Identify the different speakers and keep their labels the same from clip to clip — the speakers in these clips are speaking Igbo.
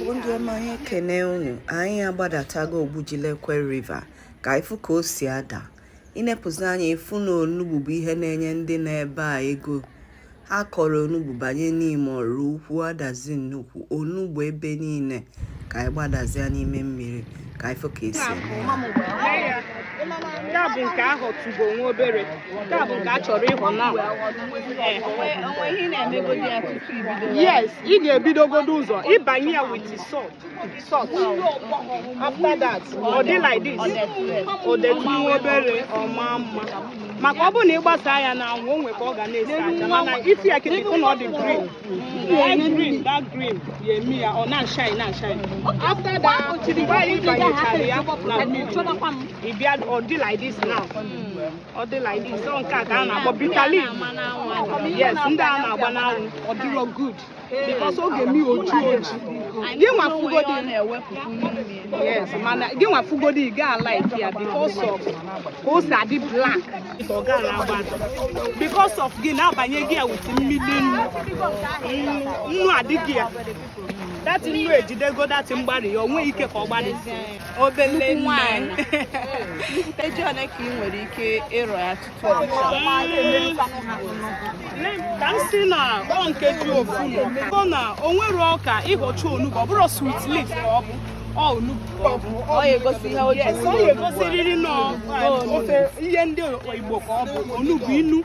Speaker 1: bụ ndị ọma anyị ekene unu anyị agbadatago Ogbujilekwe River ka ị fụ ka o si ada ị nepụzie anya ị fụ na onugbu bụ ihe na-enye ndị nọ ebe a ego ha kọrọ onugbu banye Nimo Oraukwu Adazi Nnukwu onugbu ebe niile ka anyị gbadazia n'ime mmiri ka anyị fụ ka e si
Speaker 2: nke a bụ nke a họtụgo nwa obere nke a bụ nke a chọrọ ịhọ na yes ị ga-ebidogodo ụzọ ịbanye ya with salt salt after that ọ dị like this o detụ nwa obere ọ ma mma maka ọ bụ na ị gbasa ya n'anwụ o nwe ka ọ ga na-esi acha mana ị fụ ya kịta ị fụ na ọ dị green yes ndị a na-agba n'anwụ ọ dịrọ good because ọ ga-eme oji oji gị nwa fụgodi yes mana gị nwa fụgodi ị ga like ya because of ka o si adị black because of gị na-abanye gị ya with mmiri nnu nnu adịghị ya that nnu ejidego that mgbari ya o nwe ike ka ọ gbarịzie obele nwanyị
Speaker 1: eji ole ka ị nwere ike ịrọ ya tutu
Speaker 2: ọ ka m si na ọ nke ji ofu na ọ na o nwerọ ka ị họcha onugbu ọ bụrụ sweet leaf ka ọ bụ
Speaker 1: ọ ga-egosi ihe o ji ọ
Speaker 2: ga-egosiriri na ofe ihe ndị Igbo ka ọ bụ onugbu inu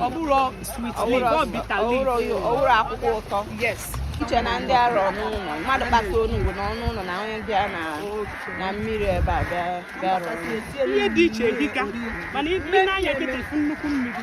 Speaker 2: ọ bụrụ sweet ọ bitter ọ bụrụ akwụkwọ
Speaker 1: ụtọ iche
Speaker 2: na ndị
Speaker 1: arọ n'ụlọ mmadụ kpata onugbu na ọnụ ụlọ na onye bịa na mmiri ebe a bịa rụọ ihe dị iche
Speaker 2: dịka mana ị nee anya kịta nnukwu mmiri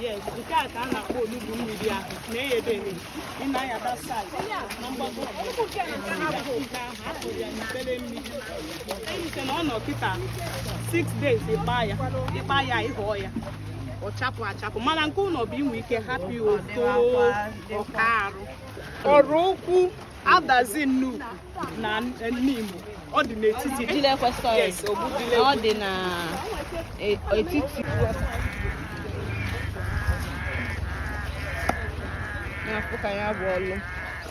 Speaker 1: Yes, nke
Speaker 2: a ka a na-akpọ olugbu mmiri ahụ na-eyebe ebe ị na-ayaba side na mgbago ya n'ikpere mmiri eyite na ọ nọ kịta 6 days ịkpa ya ịkpa ya ị họọ ya ọ chapụ achapụ mana nke ụlọ bụ i nwe ike hapụ ya oto ọka arụ Oraukwu Adazi Nnukwu na Nimo ọ dị
Speaker 1: n'etiti ọ dị n'etiti na-afụ ka ya bụ ọlụ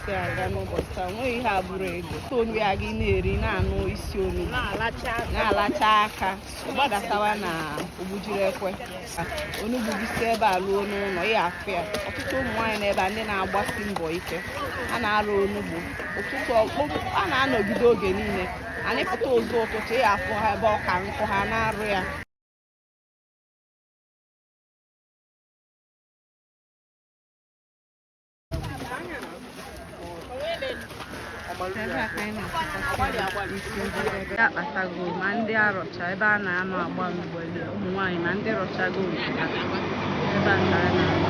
Speaker 1: si aga n'ụbọchị taa nweghị ihe abụrụ ego onu ya gị na-eri na-anụ isi onugbu na-alacha aka gbadatawa na Ogbujilekwe onugbu gị si ebe a ruo n'ụlọ ị ya-afụ ya ọtụtụ ụmụ nwaanyị n'ebe a ndị na-agbasi mbọ ike a na-arụ onugbu ụtụtụ a na-anọgide oge niile anyị pụta ụzọ ụtụtụ ị ya-afụ ha ebe ọka nkụ ha na-arụ ya ya akpatago ma ndị arọcha ebe a na-anọ agba mgbele ụmụ nwaanyị na ndị rọchago nke ha ebe a ka a na-anọ